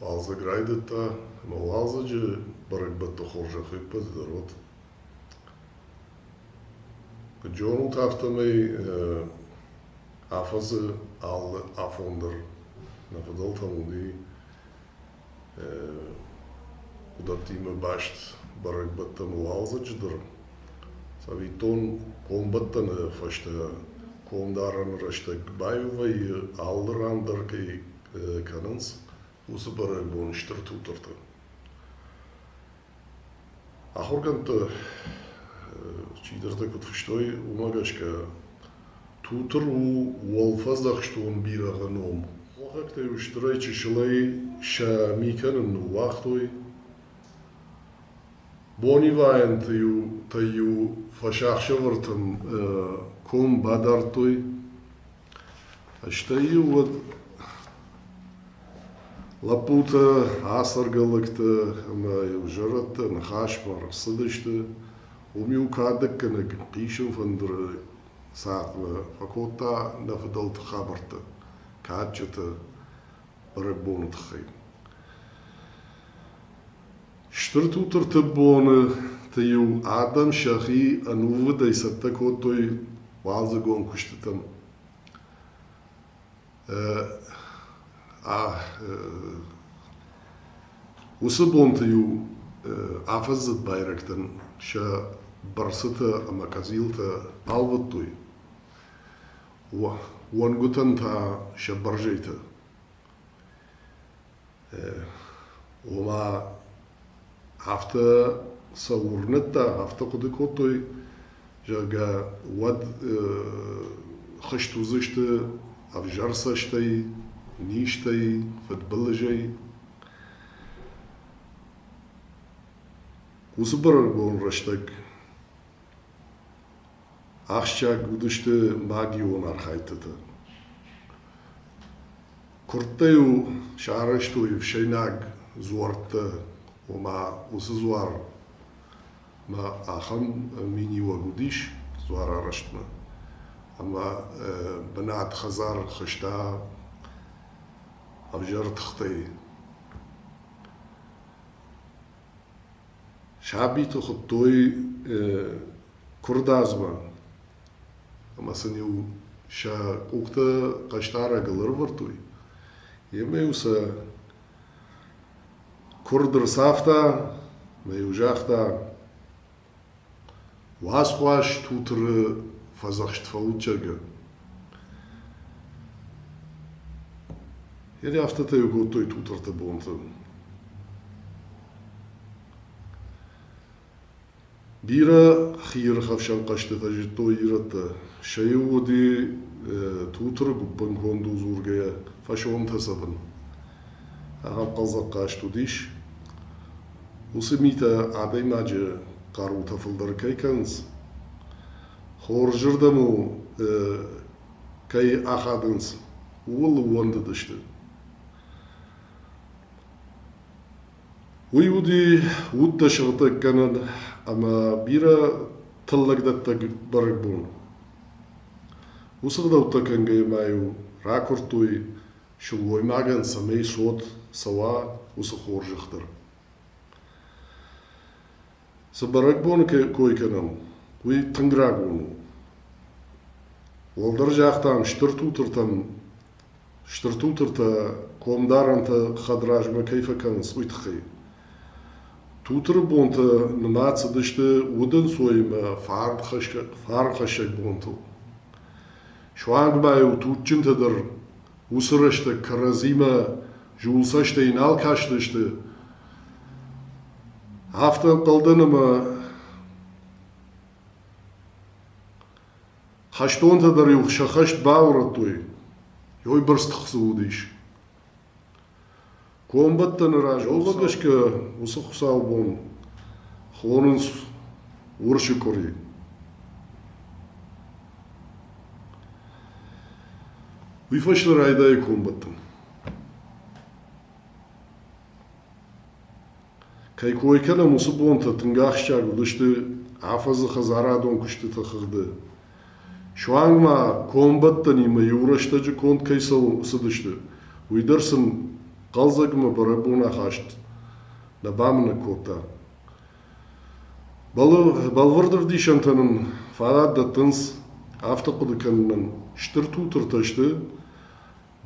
Уалдзӕг райдыдта, ӕмӕ уалдзӕджы бӕрӕгбӕтты хорзӕх ӕппӕтдӕр уыд. Куыд зонут, афтӕмӕй афӕдзы алы афон дӕр нӕ фыдӕлтӕн уыди уыдӕттимӕ баст бӕрӕгбӕттӕн уалдзӕджы дӕр. Цӕвиттон, комбӕттӕны фӕстӕ комдарӕны рӕстӕг куы баиу вӕййы, алы ран дӕр кӕй кӕнынц уыцы бӕрӕгбон стыр тутырты. Ахуыргӕндты чидӕртӕ куыд фыстой, уымӕ гӕсгӕ тутыр у уӕлфӕдзӕхстон бирӕгъы ном. Хохӕгтӕ стырӕй чысылӕй сӕ ми кӕнын ныууагътой. Бонивайӕнты-иу тӕй-иу фӕсахсӕвӕртӕн ком бадардтой. Стӕй-иу уӕд лӕппутӕ, ацӕргӕ лӕгтӕ ӕмӕ-иу зӕрӕдтӕ ныхасмӕ ӕрцыдысты. Уым-иу кадӕггӕнӕг хъисын фӕндыры цатмӕ фӕкодта нӕ фыдӕлты хабӕрттӕ, кадджытӕ бӕрӕгбоны тыххӕй. Стыр Тутырты боны-ты-иу адӕм сӕхи ӕнувыдӕй цӕттӕ кодтой уалдзыгон куыстытӕм. Уыцы бонты-иу афӕдзы байрӕгтӕн сӕ бырсытӕ ӕмӕ къӕдзилтӕ ӕлвыдтой, уӕнгуытӕн та сӕ бӕрзӕйтӕ. ома афтӕ сӕ уырнӕдта, афтӕ хъуыды кодтой, зӕгъгӕ, уӕд хызт уыдзысты ӕвзӕр цӕстӕй, низтӕй, фыдбылызӕй. Уыцы бӕрӕгбон рӕстӕг ахсджиаг уыдысты магион архайдтытӕ. Куырдтӕ-иу сарӕзтой ӕфсӕйнаг дзуӕрттӕ, ома уыцы дзуармӕ ахӕм миниуӕг уыдис дзуарарӕзтмӕ. Ӕмӕ бынат хӕдзар хызта ӕвзӕр тыхтӕй. Сабиты хуыдтой куырдадзмӕ. ӕмӕ сын-иу сӕ къухтӕ хъӕстӕрӕгыл ӕрӕвӕрдтой. Йемӕ-иу сӕ куырд ӕрцавта ӕмӕ-иу загъта: «Уацхъуаз Тутыры фӕдзӕхст фӕллытджынгӕ». Йӕ афтӕтӕ-иу кодтой Тутырты бонты. Бирӕ хиирхӕфсӕн хъӕзты фӕзыдтой ирӕттӕ. Сӕ иу уыди Тутыры гуыппын кондыл дзургӕйӕ фӕсонтӕ цӕвын. Ахӕм хъӕлдзӕгхъазт уыдис. Уыцы митӕ адӕймаджы хъарутӕ фылдӕр кӕй кӕнынц, хорзырдӕм-у кӕй ахадынц, ууыл ууӕндыдысты. Уый уыди удтӕ сыгъдӕггӕнӕн ӕмӕ бирӕ тыллӕгдӕттӕг бӕрӕгбон. Уыцы ӕгъдӕуттӕ кӕнгӕйӕ ма-иу ракуырдтой сылгоймагӕн, цӕмӕй цот цӕуа уыцы хорзӕх дӕр. Цы бӕрӕгбоны кой кӕнӕм, уый тынг рагон у. Уӕлдӕр загътам стыр тутыртӕн, стыр тутыртӕ комдарӕнтӕ хӕдразмӕ кӕй фӕкӕнынц, уый тыххӕй. Тутыры бонтӕ нымад цыдысты удӕнцойимӕ фарнхӕссӕг бонтыл. Суанг ма-иу туджджынтӕ дӕр уыцы рӕстӕг кӕрӕдзимӕ зулцӕстӕ йын нал кастысты, афтӕ ӕнхъӕлдӕн ӕмӕ хӕстонтӕ дӕр-иу сӕ хӕст баурӕдтой, йой бырст тых цы уыдис. Комбӕттӕны раз омӕ гӕсгӕ уыцы хуыцаубон хонынц урсы къуыри. Уый фӕстӕ райдайы комбӕттын. Кӕй кой кӕнӕм, уыцы бонтӕ тынг ахсджиаг уыдысты афӕдзы хӕдзарадон куыстыты хыгъды. Суанг ма комбӕттӕнимӕ иу рӕстӕджы конд кӕй цӕуыдысты, уый дӕр сын хъӕлдзӕгмӕ бӕрӕгбон ахаст нӕ бамынӕг кодта. Бӕлвырд ӕвдисӕнтӕ нын фадат дӕттынц афтӕ хъуыды кӕнынӕн, стыр тутыртӕ сты,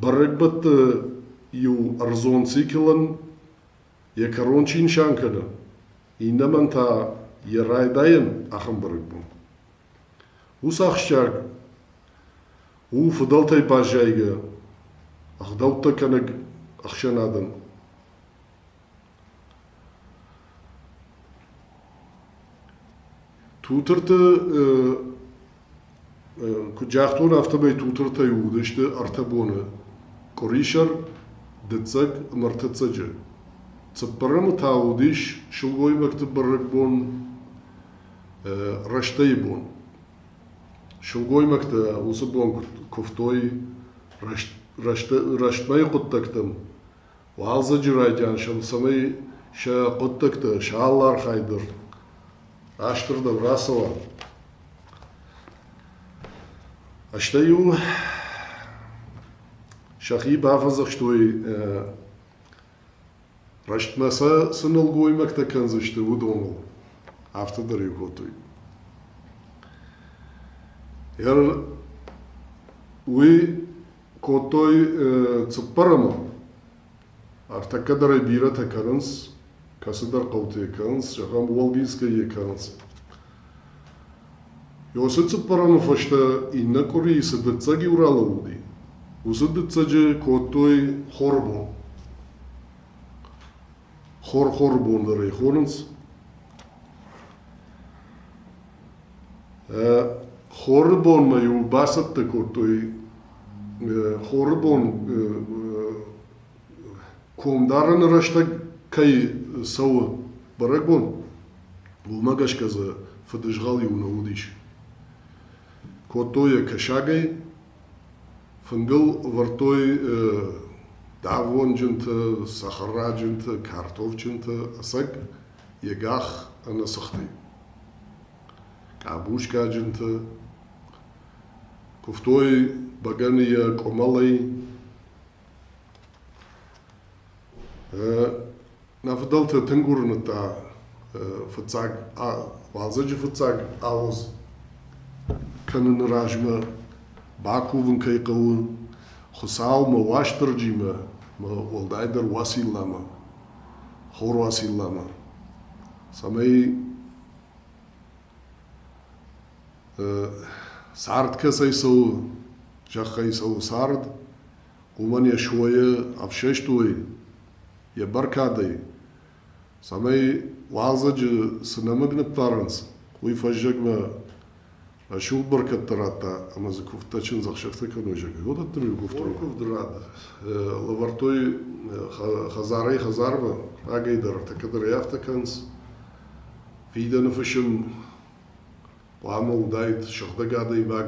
Бӕрӕгбӕтты-иу ӕрдзон циклӕн йӕ кӕрон чи нысан кӕны, иннӕмӕн та йӕ райдайӕн ахӕм бӕрӕгбон. Уыцы ахсджиаг у фыдӕлтӕй баззайгӕ ӕгъдӕуттӕ кӕнӕг ӕхсӕнадӕн. Тутырты куыд загътон, афтӕмӕй тутыртӕй уыдысты ӕртӕ боны: къуырисӕр, дыццӕг ӕмӕ ӕртӕццӕджы. Цыппӕрӕмы та уыдис сылгоймӕгты бӕрӕгбон рӕстӕйы бон. Сылгоймӕгтӕ уыцы бон куывтой рӕстмӕйы хъуыддӕгтӕм. Уалдзӕджы райдианӕн цӕмӕй сӕ хъуыддӕгтӕ сӕ алы дӕр растырдӕм рацӕуа. Стӕй-иу сӕхи бафӕдзӕхстой рӕстмӕ сӕ цы нӕлгоймӕгтӕ кӕндзысты, уыдоныл. Афтӕ дӕр-иу кодтой. Уый кодтой цыппӕрӕмон. Ӕртӕккӕ дӕр ӕй бирӕтӕ кӕнынц, кӕцыдӕр хъӕуты йӕ кӕнынц, зӕгъӕм, Уолгинскӕй йӕ кӕнынц. Ёсе цыппӕрӕмы фӕстӕ иннӕ къуырийы цы дыццӕг иу ралӕууыди, уыцы дыццӕджы кодтой хоры бон. Хор хоры бон дӕр ӕй хонынц. Хоры бонмӕ-иу бацӕттӕ кодтой хоры бон комдарыны рӕстӕг кӕй цӕуы бӕрӕгбон, уымӕ гӕсгӕ дзы фыдызгъӕл-иу нӕ уыдис. Кодтой йӕ кӕсагӕй, фынгыл ӕвӕрдтой давонджынты, цӕхӕраджынты, картофджынты, ӕцӕг йӕ гӕх ӕнӕ сыхтӕй. къабускаджынты куывтой бӕгӕны йӕ къуымӕлӕй нӕ фыдӕлты тынг уырныдта фыццаг уалдзӕджы фыццаг ауӕдз кӕныны размӕ бакувын кӕй хъӕуы хуыцаумӕ уастырджимӕ уӕлдайдӕр уацилламӕ Хорвасиллӕмӕ, цӕмӕй цард кӕцӕй цӕуы, зӕххӕй цӕуы цард, уымӕн йӕ суойы ӕфсӕстой, йӕ бӕркадӕй, цӕмӕй уалдзӕджы цы нӕмыг ныппарынц, уый фӕззӕгмӕ Рӕсугъд бӕркӕдтӕ радта ӕмӕ дзы куывдтӕ чындзӕхсӕвтӕ кӕной зӕгӕй, уыдӕттӕм иу куывддон куывды рад лӕвӕрдтой хӕдзарӕй хӕдзармӕ, рагӕй дӕр ӕртӕ кӕдӕрӕй афтӕ кӕнынц. Фидӕны фысым хъуамӕ уыдаид сыгъдӕг адӕймаг,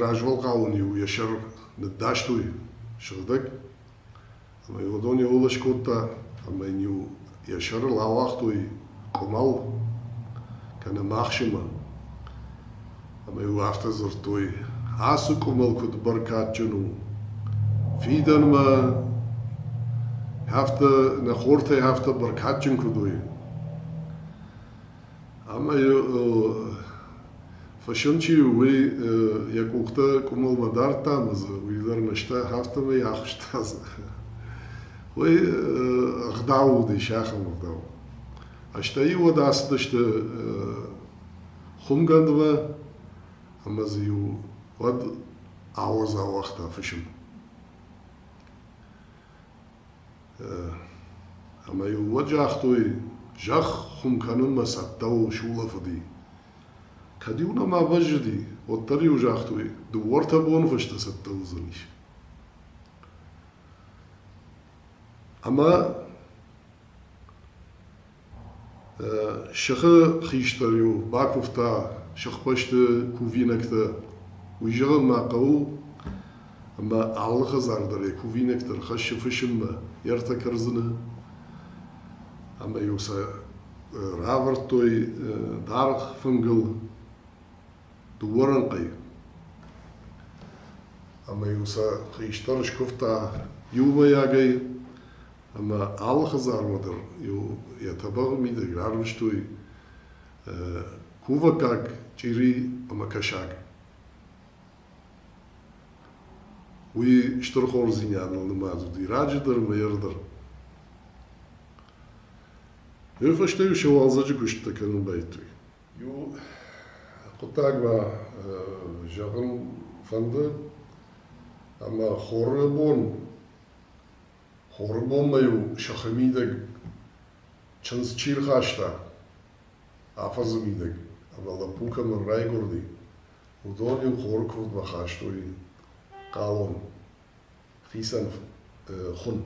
Развӕлгъауӕн-иу йӕ сӕр ныддастой сыгъдӕг, ӕмӕ йыл уыдон иу-ылыс кодта, ӕмӕ йын-иу йӕ сӕрыл ауагътой къуымӕл, кӕнӕ мӕхсымӕ. Ӕмӕ-иу афтӕ дзырдтой: «Ацы къуымӕл куыд бӕркадджын у! Фидӕнмӕ афтӕ, нӕ хортӕй афтӕ бӕркадджын куыд уой!» Ӕмӕ фысым чи у, уый йӕ къухтӕ къуымыл нӕ дардта ӕмӕ дзы уый дӕр нызтӕ, афтӕмӕй ахызта дзы. Уый ӕгъдау уыдис, ахӕм ӕгъдау. Стӕй уӕд ацыдысты хуымгӕндмӕ ӕмӕ дзы-иу уӕд ауӕдз ауагъта фысым. Ӕмӕ-иу уӕд загътой, зӕхх хуым кӕнынмӕ цӕттӕ у сулӕфыди. Кӕд-иу нӕма бӕззыди, уӕддӕр-иу загътой, дыууӕ-ӕртӕ боныфӕстӕ цӕттӕ уыдзӕнис. Ӕмӕ Сыхы хистӕр-иу бакуывта сыхбӕсты кувинӕгтӕ. Уый зӕгъын ма хъӕуы, ӕмӕ алыхы дзаг дӕр йӕ кувинӕгтӕ рхӕссы фысыммӕ, йӕ ртӕ кӕрдзыны. Ӕмӕ-иу сӕ равӕрдтой даргъ фынгыл дыууӕ рӕнхъӕй. Ӕмӕ-иу сӕ хистӕр скуывта иумӕйагӕй, Ӕмӕ алы хӕдзармадӕн иу йӕ тӕбӕгъы мидӕг рарвыстой кувӕггаг, чъири ӕмӕ кӕсаг. Уый стыр хорздзинадыл нымад уыди раджыдӕр ӕмӕ ердӕр. Уый фӕстӕ-иу се уалдзӕджы куыстытӕ кӕнын байдыдтой. Иу хъуыддаг ма зӕгъын фӕнды, ӕмӕ хоры бон Хоры бонмӕ-иу сыхы мидӕг чындз чи рхаста, афӕдзы мидӕг ӕмӕ лӕппу кӕмӕн райгуырди, уыдон-иу хоры куывдмӕ хастой хъалон, хицӕн хуын.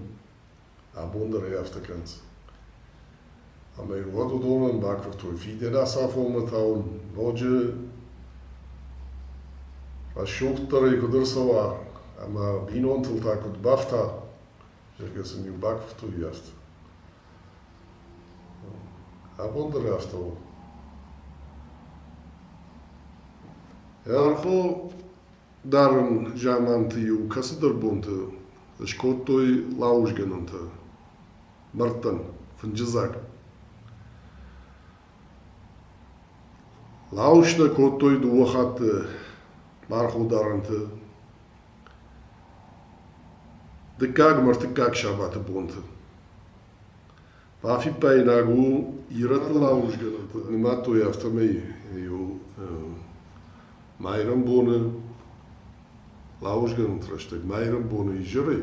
Абон дӕр ӕй афтӕ кӕнынц. Ӕмӕ иу уӕд уыдонӕн бакуырдтой фидӕны ацафонмӕ та уын ноджы рӕсугъддӕрӕй куыд ӕрцӕуа ӕмӕ бинонтыл та куыд бафта, зӕгъгӕ сын-иу бакуырдтой йӕхд. Абон дӕр афтӕ у. Ӕрхо дарын заманты-иу кӕцыдӕр бонты скодтой лауызгӕнӕнтӕ. Мӕрдтӕн, фынджы дзаг. Лауызтӕ кодтой дыууӕ хатты мархударӕнты дыккаг мӕ ртыккаг сабаты бонты. Бафиппаинаг у, ирӕтты лауызгӕнӕнтӕ нымадтой афтӕмӕй иу майрӕмбоны лауызгӕнӕнты рӕстӕг майрӕмбоны изӕрӕй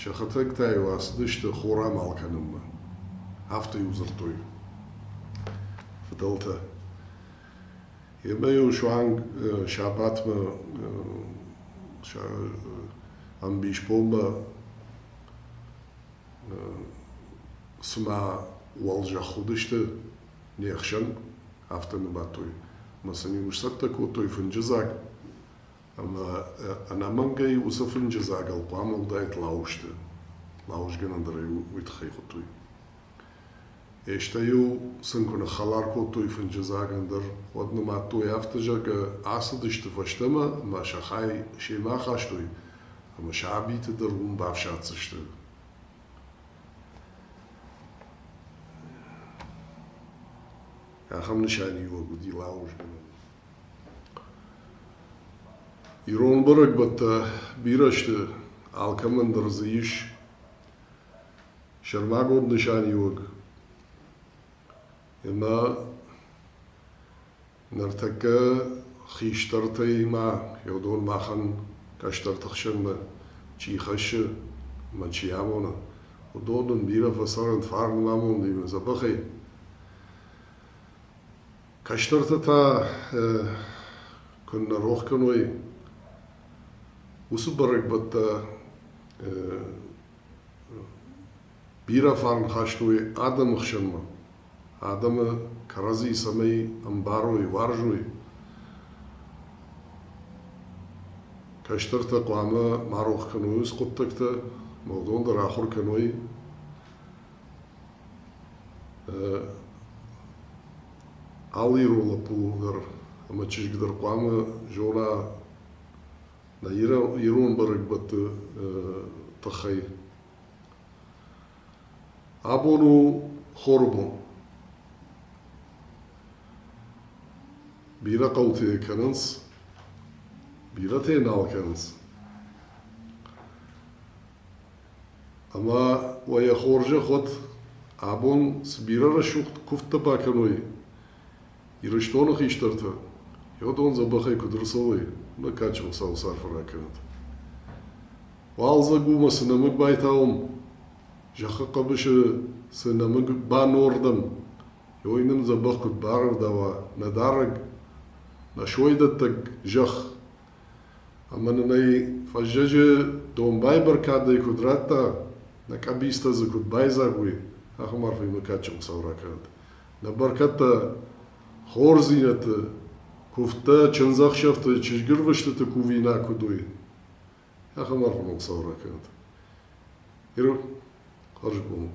Сӕхӕдӕг-та-иу ацыдысты хорамал кӕнынмӕ, афтӕ-иу дзырдтой фыдӕлтӕ. Емӕ-иу суанг сабатмӕ ӕмбисбонмӕ цыма уӕлзӕхх уыдысты не хсӕн, афтӕ ныбадтой. Ӕмӕ сын-иу сцӕттӕ кодтой фынджы дзаг, Ӕмӕ ӕнӕмӕнгӕй уыцы фынджы дзагыл хъуамӕ уыдаид лауызты. Лауызгӕнӕн дӕр ӕй уый тыххӕй хуыдтой. Естӕ-иу сын куы ныххӕлар кодтой фынджы дзаг ӕндӕр, уӕд нымадтой афтӕ, зӕгъгӕ, ацыдысты фӕстӕмӕ ӕмӕ сӕ хай семӕ ахастой ӕмӕ сабиты дӕр уым бафсаддзысты. Ахӕм нысаниуӕг уыди лауызгӕнӕн. Ирон бӕрӕгбӕттӕ бирӕ сты, алкӕмӕн дӕр дзы ис сӕрмагонд нысаниуӕг. Ӕмӕ ныртӕккӕ хистӕртӕимӕ, йӕ махӕн кӕстӕрты хсӕнмӕ чи хӕссы ӕмӕ чи амоны, уыдон нын бирӕ фӕцӕрӕнт фарн ӕмӕ амондимӕ дзӕбӕхӕй. Кӕстӕртӕ та куыннӕ рох кӕной уыцы бӕрӕгбӕттӕ, бирӕ фарн хастой адӕмы хсӕнмӕ, адӕмы кӕрӕдзи цӕмӕй ӕмбарой, уарзой. Кӕстӕртӕ хъуамӕ ма рох кӕной уыцы хъуыддӕгтӕ, ӕмӕ уыдон дӕр ахуыр кӕной Алы ирон лӕппу дӕр ӕмӕ чызг дӕр хъуамӕ зона нӕ ирон бӕрӕгбӕтты тыххӕй. Абон у хоры бон. Бирӕ хъӕутӕ кӕнынц, бирӕтӕ нал кӕнынц. Ӕмӕ уӕ йӕ хорзӕх уӕд, абон цы бирӕ рӕсугъд куывдтӕ бакӕной Ирыстоны хистӕртӕ, йӕдон дзӕбӕхӕй куыд ӕрцӕуой, нӕ кадджын Хуыцауы царфы ракӕнӕд. Уалдзӕг у мӕ цы нӕмыг байтауӕм, зӕххы хъӕбысы цы нӕмыг банордӕм, ой нын дзӕбӕх куыд барӕвдауа нӕ дарӕг, нӕ сойдӕттӕг зӕхх, Ӕмӕ нын ӕй фӕззӕджы домбай бӕркадӕй куыд радта, нӕ къӕбицтӕ дзы куыд байдзаг уой, ахӕм арфӕимӕ кадджын Хуыцау ракӕнӕд нӕ бӕркӕдтӕ, хорздзинӕдты, куывдтӕ, чындзӕхсӕвты, чызгырвыстыты кувинаг куыд уой. Ахӕм арфӕмӕ Хуыцау ракӕнӕд Иры хӕрзконд.